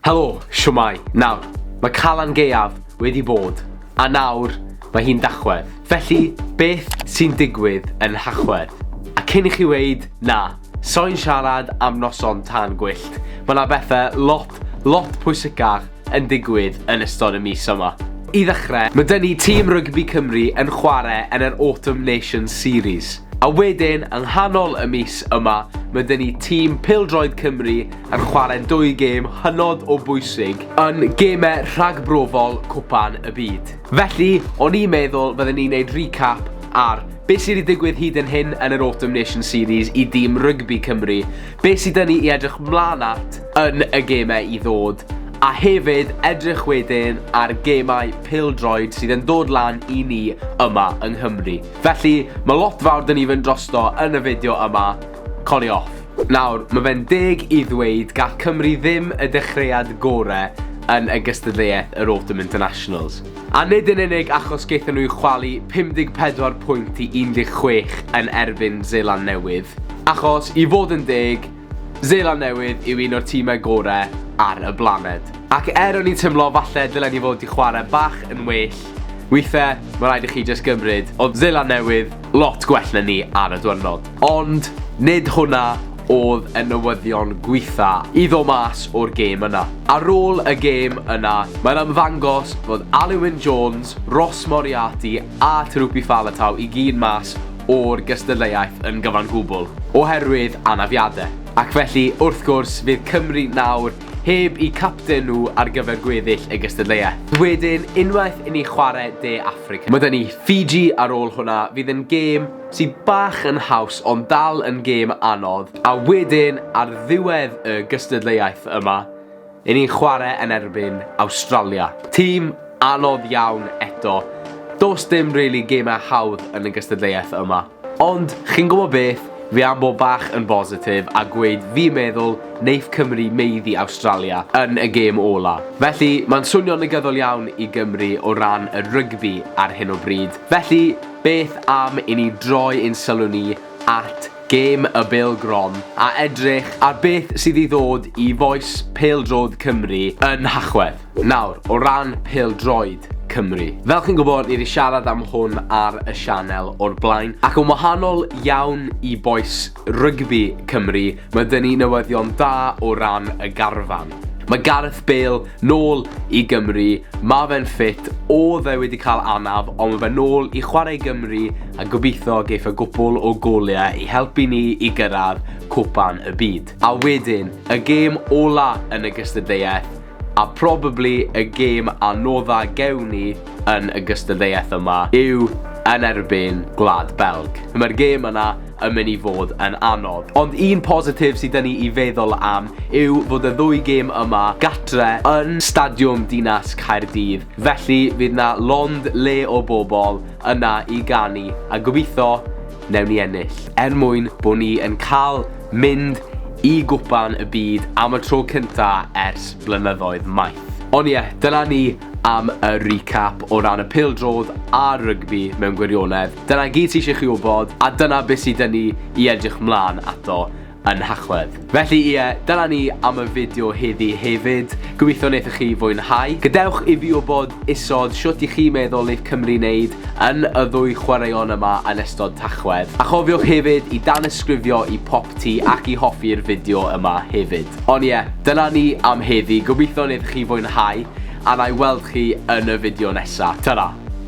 Helo, shwmae? Nawr, mae Calan Gaeaf wedi bod, a nawr mae hi'n Dachwedd. Felly, beth sy'n digwydd yn Nhachwedd? A cyn i chi weud, 'Na, sai'n siarad am noson tân gwyllt, mae 'na bethau lot, lot pwysicach yn digwydd yn ystod y mis yma. I ddechrau, mae 'da ni tîm rygbi Cymru yn chwarae yn yr Autumn Nations Series. A wedyn, yng nghanol y mis yma, mae 'da ni tîm pêl-droed Cymru yn chwarae dwy gêm hynod o bwysig yn gemau rhagbrofol Cwpan y Byd. Felly, o'n i'n meddwl fydden ni'n neud recap ar beth sydd wedi digwydd hyd yn hyn yn yr Autumn Nation Series i dîm rygbi Cymru, beth sydd dyn ni i edrych mlaen at yn y gemau i ddod, a hefyd edrych wedyn ar gemau pêl-droed sydd yn dod lan i ni yma yng Nghymru. Felly, mae lot fawr dyn ni fynd drosto yn y fideo yma, Colli off. Nawr, mae fe'n deg i ddweud gall Cymru ddim y dechreuad gore yn y gystadleuaeth yr Autumn Internationals. A nid yn unig achos gaethon nhw chwalu 54 pwynt i 16 yn erbyn Seland Newydd, achos, i fod yn deg, Seland Newydd yw un o'r timau gore ar y blaned. Ac er o'n i'n tymlo falle dylen ni fod 'di chwarae bach yn well, weithe, mae rhaid i chi jyst gymryd, oedd Seland Newydd lot gwell na ni ar y dwyrnod. Ond nid hwnna oedd y newyddion gwitha i ddod mas o'r gêm yna. Ar ôl y gêm yna, mae'n ymddangos fod Alun-Wyn Jones, Ross Moriarty a Tanuki Faletau i gyd mas o'r gystadleuaeth yn gyfan gwbl, oherwydd anafiadau. Ac felly, wrth gwrs, fydd Cymru nawr Heb eu capten nhw ar gyfer gweddill y gystadleuaeth. Wedyn, unwaith i ni chwarae De Affrica. Mae 'da ni Fiji ar ôl hwnna, fydd yn gêm sydd bach yn haws ond dal yn gêm anodd. A wedyn, ar ddiwedd y gystadleuaeth yma, 'yn ni'n chwarae yn erbyn Awstralia. Tîm anodd iawn eto. Does dim rili gemau hawdd yn y gystadleuaeth yma. Ond, chi'n gwybod beth, fi am bod bach yn bositif a gweud fi'n meddwl neith Cymru maeddu Awstralia yn y gêm ola. Felly, ma'n swnio'n negyddol iawn i Gymru o ran y rygbi ar hyn o bryd. Felly, beth am i ni droi ein sylw ni at gêm y bêl gron a edrych ar beth sydd i ddod i fois pêl-droed Cymru yn Nhachwedd. Nawr, o ran pêl-droed Cymru. Fel chi'n gwybod, ni wedi siarad am hwn ar y sianel o'r blaen, ac yn wahanol iawn i bois rygbi Cymru, mae dyn ni newyddion da o ran y garfan. Mae Gareth Bale nôl i Gymru, mae fe'n ffit, oedd e wedi cael anaf, ond mae fe nôl i chwarae Gymru a gobeithio geith y gwpl o goliau i helpu ni i gyrraedd Cwpan y Byd. A wedyn, y gêm ola yn y gystadleuaeth, A probably y gêm anodda gewn ni yn y gystadleuaeth yma yw yn erbyn Gwlad Belg. Mae'r gêm yna yn mynd i fod yn anodd. Ond un positif sydd dyn ni i feddwl am yw fod y ddwy gêm yma gatre yn Stadiwm Dinas Caerdydd. Felly fydd na lond le o bobl yna i ganu a gobeithio newn ni ennill. Er mwyn bod ni yn cael mynd i gwpan y byd am y tro cynta ers blynyddoedd maith. Ond ie, yeah, dyna ni am y recap o ran y pildrodd a rygbi mewn gwirionedd. Dyna gyd sy'n eisiau chi wybod, a dyna beth sydd dyn ni i edrych mlaen ato yn Nhachwedd. Felly ie, dyna ni am y fideo heddi hefyd, gobeithio wnaethoch chi fwynhau. Gadewch i fi wybod isod shwt i chi meddwl neith Cymru wneud yn y ddwy chwaraeon yma yn ystod Tachwedd. A chofiwch hefyd i danysgrifio i Popty ac i hoffi'r fideo yma hefyd. Ond ie, dyna ni am heddi, gobeithio wnaethoch chi fwynhau, a wna i weld chi yn y fideo nesa. Tara!